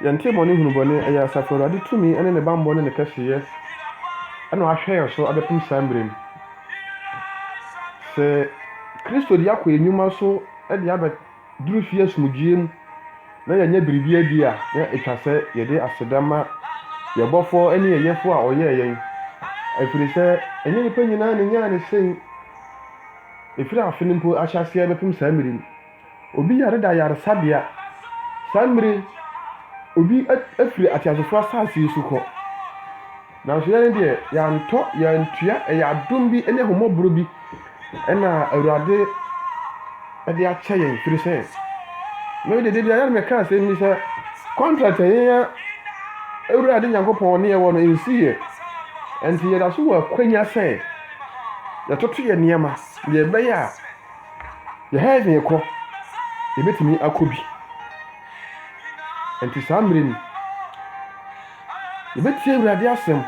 Yɛnte bɔne hunu bɔne. Ɛyɛ Asafo Awurade tumi ne ne bammɔ ne ne kɛseyɛ na wahwɛ yɛn so abɛpem saa mmerɛ mu. Sɛ Kristo de akɔ yɛn nnwuma so de abɛduru fie asomdwoeɛ mu na yɛanya biribi adi a, na ɛtwa sɛ yɛde aseda ma yɛn Bɔfoɔ ne yɛn Yɛfoɔ a ɔyɛɛ yɛn, ɛfiri sɛ ɛnyɛ nnipa nyinaa na ɛnyaa no sei. Ɛfiri afe no mpo ahyɛaseɛ bɛpem saa mmerɛ mu. Obi yare da ayaresabea. Saa mmere yi, obi afiri ateasefo asase yi so kɔ. Nanso yɛn deɛ, yɛantɔ, yɛantua, ɛyɛ adom bi ne ahummɔborɔ bi na Awurade de akyɛ yɛn. Firi sɛ, me de, da biara na meka asɛm bi sɛ, contract a yɛn Awurade Nyankopɔn ne yɛwɔ no nsi yɛ. Ɛnti yɛda so wɔ akwanya sɛ yɛtoto yɛn nneɛma deɛ ɛbɛyɛ a Yɛhɛn yɛkɔ, yɛbɛtumi akɔ bi. Nti saa mmerɛ no, yɛbɛtie Awurade asɛm.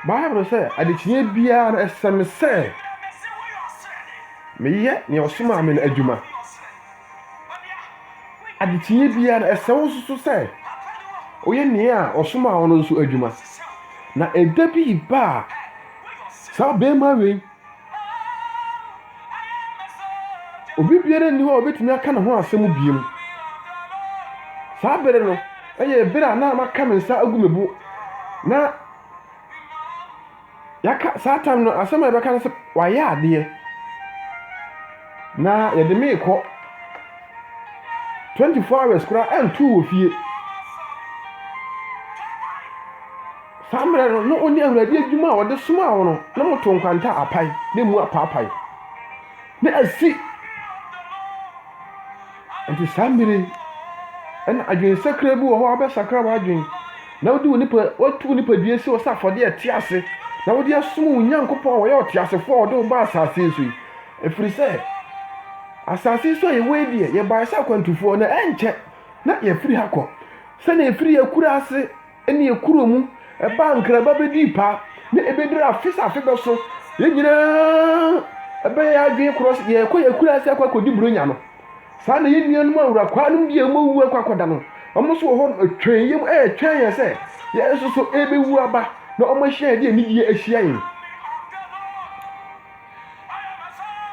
Bible sɛ, adekyeɛ biara no ɛsɛ me sɛ meyɛ nea ɔsomaa me no adwuma. Adekyeɛ biara no ɛsɛ wo nso sɛ woyɛ nea ɔsomaa wo no nso adwuma. Na ɛda bi ba a, saa bɛrima wei Obi biara nni hɔ a obetumi aka ne ho asɛm bio. Saa bere no yɛ bere a na maka me nsa agu me bo na yɛaka saa tam no asɛm a yɛbɛka no sɛ wayɛ adeɛ na yɛde me rekɔ 24 hours koraa ɛnto wɔ fie. Saa mmerɛ no, na ɔnni Awurade adwuma a ɔde somaa wo no, na moto nkwanta apae, na emu apaapae, na asi. Nti saa mmerɛ yi, ɛna adwensakra bi wɔ hɔ a wobɛsakra w'adwen, na wode wo nipa, watu wo nipadua si hɔ sɛ afɔdeɛ a ɛte ase, na wode asom wo Nyankopɔn a ɔyɛ ɔteasefoɔ a ɔde wo baa asase yi so yi. Ɛfiri sɛ, asase yi so a yɛwɔ yi deɛ, yɛbaeɛ sɛ akwantufoɔ, na ɛrenkyɛ na yɛafiri ha kɔ, sɛdeɛ yɛfiri yɛn akuraase ne ɛkorɔɔ mu, ɛbaa nkran ba bɛdii paa, na ɛbɛduru afe sɛ afe bɛso. Yɛn nyinaa ɛbɛyɛ yɛn adwene korɔ sɛ yɛrekɔ yɛn kunu ase akɔ akɔdi buronya no. Saa na yɛn nuanom awurakwaa nom deɛ wɔn awu akɔ akɔda no, wɔn nso wɔ hɔ nom ɛtwɛn yɛn mu ɛretwɛn yɛn sɛ yɛn nso so ɛrebɛwu aba na wɔn ahyia yɛn de anigyeɛ ahyia yɛn.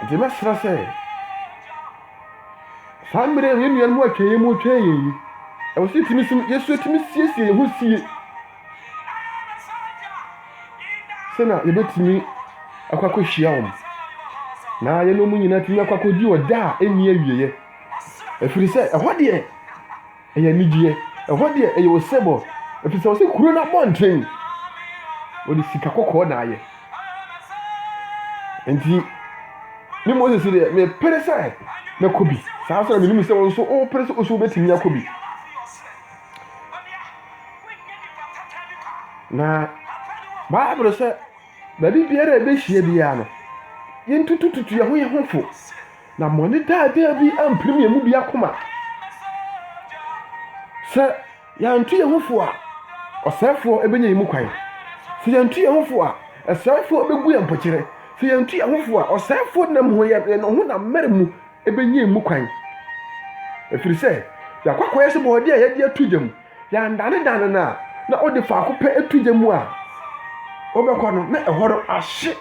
Nti mɛsrɛ sɛ. Saa mmerɛ a yɛn nuanom atwa yɛn mu retwɛn yɛn yi, ɛwɔ sɛ yɛtumi som, yɛn nso yɛtumi siesie yɛn ho sie sɛ na yɛbɛtumi akɔ akɔhyia wɔn na yɛne wɔn nyinaa tumi akɔ akɔdi ɔda a ɛnni awieɛ ɛfiri sɛ ɛhɔ deɛ Ɛyɛ anigyeɛ. Ɛhɔ deɛ ɛyɛ osebɔ ɛfiri sɛ wɔsi kuro no abɔnten wɔde sika kɔkɔɔ na ayɛ. Nti ne Moses deɛ mepere sɛ mɛkɔ bi. Saa nso na menim sɛ wɔn nso wopere sɛ nso wobɛtumi akɔ bi. Na Bible sɛ baabi biara a ɛbɛhyia biara no, yɛntutututu yɛn ho yɛn ho fo. Na mmɔne daadaa bi ampirim yɛn mu biako ma. Sɛ yɛantu yɛn ho fo a, ɔsɛefoɔ bɛnya yɛn mu kwan. Sɛ yɛantu yɛn ho fo a, ɔsɛefoɔ bɛgu yɛn mpokyerɛ. Sɛ yɛantu yɛn ho fo a, ɔsɛefoɔ nam ho yɛn yɛn ɔhonam mmerɛ mu bɛnya yɛn mu kwan. Ɛfiri sɛ, yɛakɔ akɔyɛ sɛ bɔɔdeɛ a yɛde ato gya mu. Yɛandanedane no a, na ɔde faako pɛ to gya mu a wobɛkɔ no, na ɛhɔ no ahye.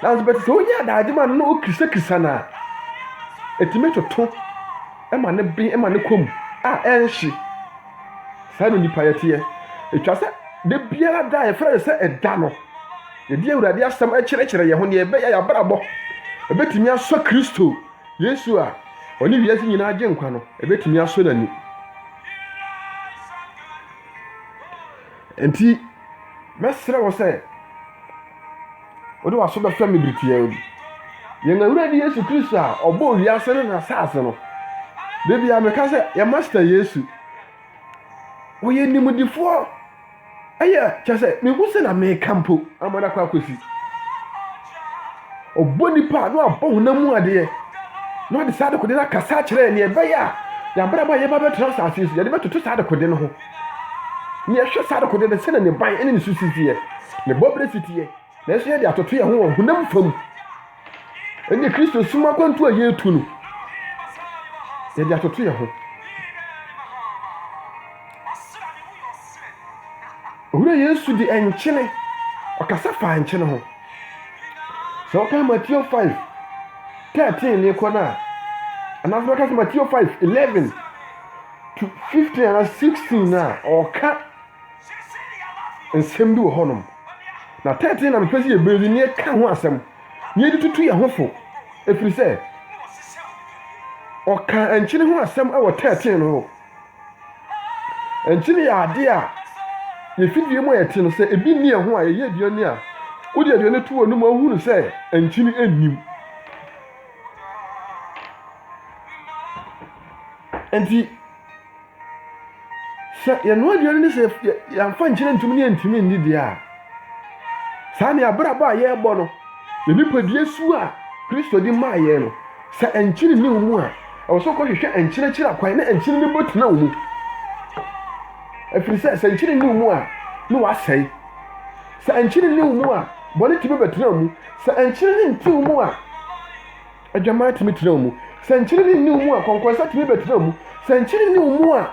Nanso bɛte sɛ wonya adagye ma no na wokisakisa no a, ɛtumi toto ma ne ben ma ne kɔ mu a ɛnhye. Saa na onipa yɛ teɛ. Ɛtwa sɛ da biara da a yɛfrɛ no sɛ ɛda no, yɛde Awurade asɛm kyerɛkyerɛ yɛn ho, deɛ ɛbɛyɛ yɛabrabɔ ɛbɛtumi asɔ Kristo. Yesu a ɔne wiase nyinaa Agyenkwa no betumi asɔ n'ani. Enti, mɛsrɛ wo sɛ wode w'aso bɛhwɛ me bere tiaa bi. Yɛn Awurade Yesu Kristo a ɔbɔɔ wiase ne n'asase no, da biara meka sɛ, yɛn Master Yesu, ɔyɛ nimdefoɔ. ɛyɛ kyɛ sɛ mehu sɛ na meka mpo ama no akɔ akɔsi ɔbɔ nipa a na wabɔ honam mu adeɛ na ɔde saa adekode no akasa akyerɛ neɛ ɛbɛyɛ a yɛabrabɔ a yɛba bɛtena asase so yɛde bɛtoto saa adekode no ho ne yɛhwɛ saa adekode no sɛdeɛ ne ban ne ne so sisiɛ ne bɔberɛ siteɛ Nanso yɛde atoto yɛn ho wɔ honam fam. Ɛnna Kristo som akwantu a yɛretu no, yɛde atoto yɛn ho. Owura Yesu de nkyene, ɔkasa faa nkyene ho. Sɛ wɔka Matthew 5, 13 ne kɔ no a, anaasɛ wɔka sɛ Matthew 5, 11 to 15 anaa 16 no a, ɔka nsɛm bi wɔ hɔnom na tɛɛtɛɛ na mepɛ sɛ yɛbɛdi na yɛka ho asɛm na yɛde tutu yɛn ho fo ɛfiri sɛ ɔka nkyene ho asɛm wɔ tɛɛtɛɛ no hɔ nkyene yɛ adeɛ a yɛfidie mu a yɛte no sɛ ebi nni ɛho a yɛyɛ aduane a wode aduane to wɔ no mu ahunu sɛ nkyene nnim nti Sɛ yɛnoa aduane no sɛ yɛamfa nkyerɛ ntumi ne yɛntumi nni deɛ a saa ne abrabɔ a yɛrebɔ no yɛ nipadua su a kristo de maa yɛn no sɛ nkyene ne mu a ɛwɔ sɛ kɔhwehwɛ nkyerɛkyerɛ akwan na nkyene no bɔ tena wo mu ɛfiri sɛ sɛ nkyene ne mu a ne wasɛe sɛ nkyene ne mu a bɔne tumi bɛtena mu sɛ nkyene ne ntew mu a Adwammaa tumi tena wɔn mu. Sɛ nkyenene nni wɔn mu a, kɔnkɔnsa tumi bɛtena wɔn mu. Sɛ nkyenene nni wɔn mu a,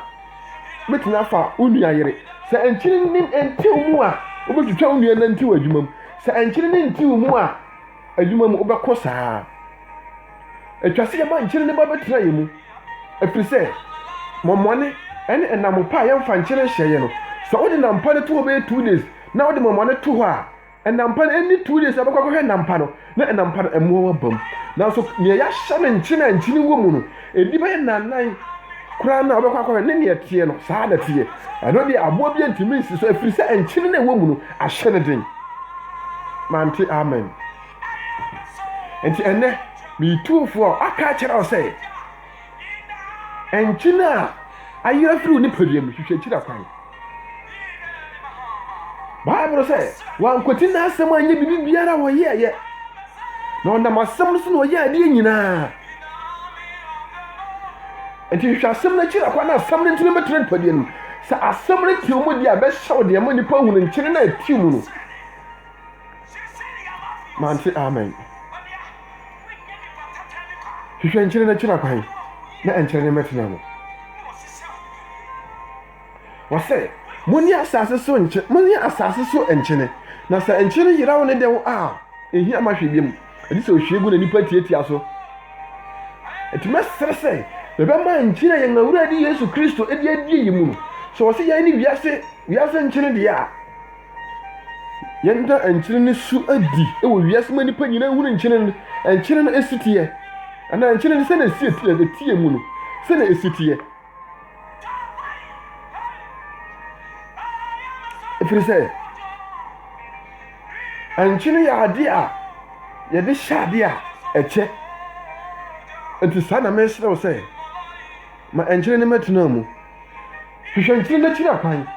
wobɛtumi afa wo nua yere. Sɛ nkyenene nte wɔn mu a, wobɛtwitwa wo nua nanti wɔ adwuma mu. Sɛ nkyenene nti wɔn mu a, adwuma mu wobɛkɔ saa. Ɛtwa sɛ yɛma nkyenene ba bɛtena yɛn mu, ɛfiri sɛ mɔmmɔne ne ɛnam pa a yɛmfa nkyenene hyɛ yɛ no. Sɛ wode nam pa no to hɔ bɛyɛ two days na wode mɔmmɔne to hɔ a, Nampa no ɛnni two days a bɛkɔ akɔhwɛ nampa no na nampa no ɛmoa no abam nanso nea yɛahyɛ no nkyene a nkyene wɔ mu no ɛdi bɛyɛ nnanan koraa no a wobɛkɔ akɔhwɛ ne nea ɛteɛ no saa na ɛteɛ ɛno deɛ aboa bi ntumi nsi so ɛfiri sɛ nkyene no ɛwɔ mu no ahyɛ no den mante amen nti ɛnɛ meyi tuofoɔ a aka akyerɛ wo sɛ Nkyene a ayi afiri wo nipadua mu hwehwɛ akyiri akwan. Bible sɛ wankwati n'asɛm anyɛ biribi biara a wɔyɛɛyɛ. Na ɔnam asɛm no so na ɔyɛ adeɛ nyinaa. Nti hwehwɛ asɛm no akyiri akwan na asɛm no ntumi bɛtena nipadua no mu. Sɛ asɛm no tew mu deɛ a bɛhyɛ wo deɛ ma nipa hunu nkyene no a ɛtew mu no. Mante amen. hwehwɛ nkyene no akyiri akwan na ɛnkyerɛ ne mmɛtena no wɔsɛ moni asase so nkye moni asase so nkyene na sɛ nkyene no yeraw ne dɛw a ehia ma hwɛ biam ɛde sɛ ohwie gu na nipa tiatia so ɛtumi asere sɛ bɛbɛma nkyene yɛn awurade yesu kristo ɛde adie yi mu no sɛ wɔsɛ yɛn ne wiase wiase nkyene deɛ a Yɛnda nkyene no su adi wɔ wiase ma nnipa nyinaa nhunu nkyene no, nkyene no si teɛ, anaa nkyene no sɛdeɛ ɛsi teɛ, ɛteɛ mu no, sɛdeɛ ɛsi teɛ. Ɛfiri sɛ, nkyene yɛ adeɛ a yɛde hyɛ adeɛ a ɛkyɛ. Nti saa na mesrɛ wo sɛ, ma nkyene no mɛtena mu. hwehwɛ nkyene no akyiri akwan,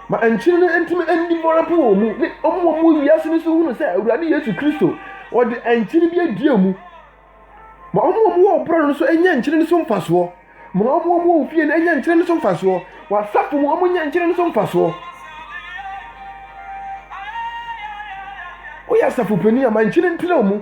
ma nkyene no ntumi nni mmɔra mpo wɔ wɔn mu, ne wɔn a wɔwɔ wiase no nso hunu sɛ Awurade Yesu Kristo, ɔde nkyene bi adi wɔn mu. Ma wɔn a wɔwɔ ɔborɔ no so nya nkyene no so mfasoɔ. Ma wɔn a wɔwɔ wo fie no nya nkyene no so mfasoɔ. Wɔ asafo mu, wɔn nya nkyene no so mfasoɔ. Woyɛ asafo panin a, ma nkyene ntrɛ wɔn mu.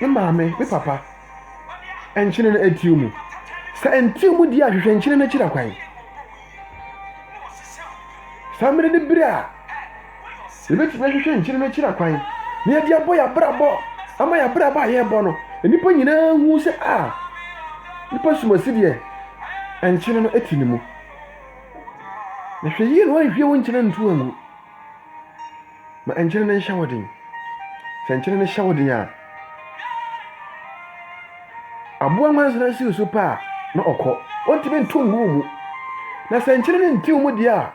Me maame, me papa, nkyene no atiw mu. Sɛ ɛntew mu di a, hwehwɛ nkyene no akyiri akwan. Saa mmere ne bere a yɛbɛtumi ahwehwɛ nkyene no akyiri akwan na yɛde abɔ yɛn abrabɔ ama yɛn abrabɔ a yɛrebɔ no nnipa nyinaa hu sɛ a ah, nipa sumasi deɛ nkyene no ti ne mu na hwɛ yie na wanhwie wo nkyene nto angu Ma nkyene no nhyɛ wo den. Sɛ nkyene no hyɛ wo den a, aboa nwansena si so pɛ a na ɔkɔ. Ɔntumi nto ngu mu. Na sɛ nkyene no ntew mu deɛ a,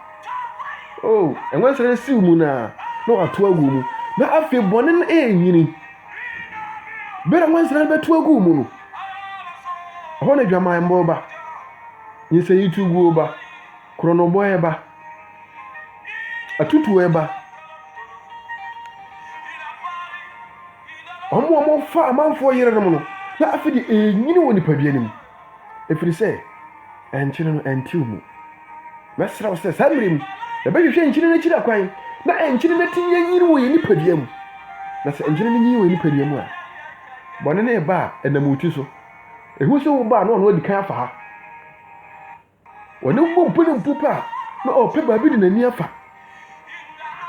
oh, nwansena no siw mu na na wato agu mu. Na afei bɔne no ɛrenyini. Bere a nwansena no bɛto agu mu no, ɛhɔ na adwaman bɔ ba. Nsɛnyi tu guo ba. Korɔnobɔ reba. Atutuo reba. Wɔn a wɔfa amanfoɔ yerenom no, na afei de ɛrenyini wɔ nipadua no mu. Ɛfiri sɛ, ɛnkyene no ɛntew mu. Mɛsrɛ wo sɛ saa mmerɛ mu, yɛbɛhwehwɛ nkyene no akyiri akwan na ɛnkyene no atumi anyini wɔ yɛn nipadua mu. Na sɛ nkyene no nyini wɔ yɛn nipadua mu a, bɔne no reba a ɛnam wo ti so. Ɛhu sɛ wo ba a na ɔno adi kan afa ha. Wɔne wo mmɔ mpena mpo pɛ a, na ɔrepɛ baabi de n'ani afa.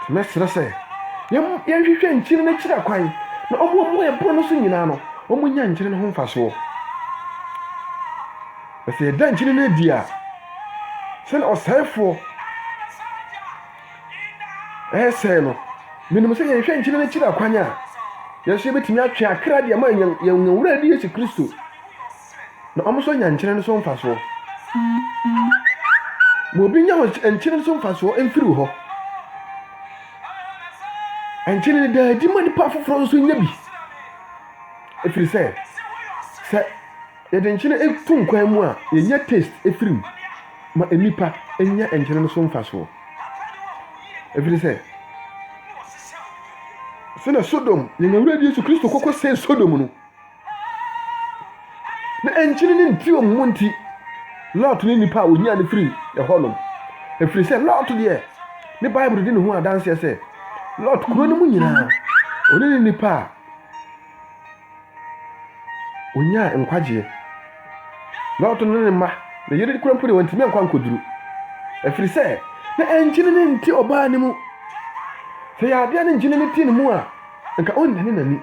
Nti mɛsrɛ sɛ yɛnhwehwɛ nkyene no akyiri akwan, na wɔn a wɔwɔ ɛbono no so nyinaa no, wɔnnya nkyene no ho mfasoɔ. Na sɛ yɛda nkyene no adi a, sɛdeɛ ɔsɛefoɔ ɛresɛe no, menim sɛ yɛhwɛ nkyene no akyiri akwan a, yɛn nso yɛbɛtumi atwe akra de ama yɛn Wura ne Yesu Kristo. na wɔn nso nya nkyene no so mfasoɔ. Ma obi nya nkyene no so mfasoɔ mfiri wo hɔ. Nkyene no daa adi ma nipa foforɔ nso nya bi. Ɛfiri sɛ, sɛ yɛde nkyene to nkwan mu a, yɛnya taste ɛfiri mu ma nnipa nya nkyene no so mfasoɔ. Ɛfiri sɛ, sɛnea Sodom, yɛn awurade Yesu Kristo kɔkɔ sɛe Sodom no, Na ɛnkyene ne nteɛm mu nti, Lot ne nnipa a wɔnyaa no firii ɛhɔ nom. Ɛfiri sɛ Lot deɛ, ne Bible di ne ho adanseɛ sɛ, Lot kuro no mu nyinaa, ɔne ne nnipa a wɔnyaa nkwagyeɛ. Lot ne ne mma, ne yere kura mpo deɛ wɔntumi ankɔ ankɔduru. Ɛfiri sɛ, na ɛnkyene ne nte ɔbaa no mu. Sɛ yɛ adeɛ ne nkyene ne te ne mu a, nka ɔnnane n'ani.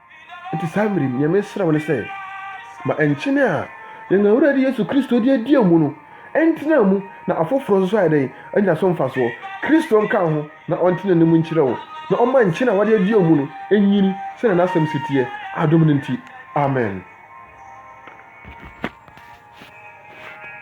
Enti saa mmere yi, nea mesrɛ wo ne sɛ, ma nkyene a yɛn Awurade Yesu Kristo de adi amu no ntena mu na afoforo nso ayɛ dɛn? Anya so mfasoɔ. Kristo nka wo ho na ɔnte ne nne mu nkyerɛ wo, na ɔmma nkyene a wɔde adi amu no nyini sɛnea n'asɛm se teɛ, adom no nti. Amen.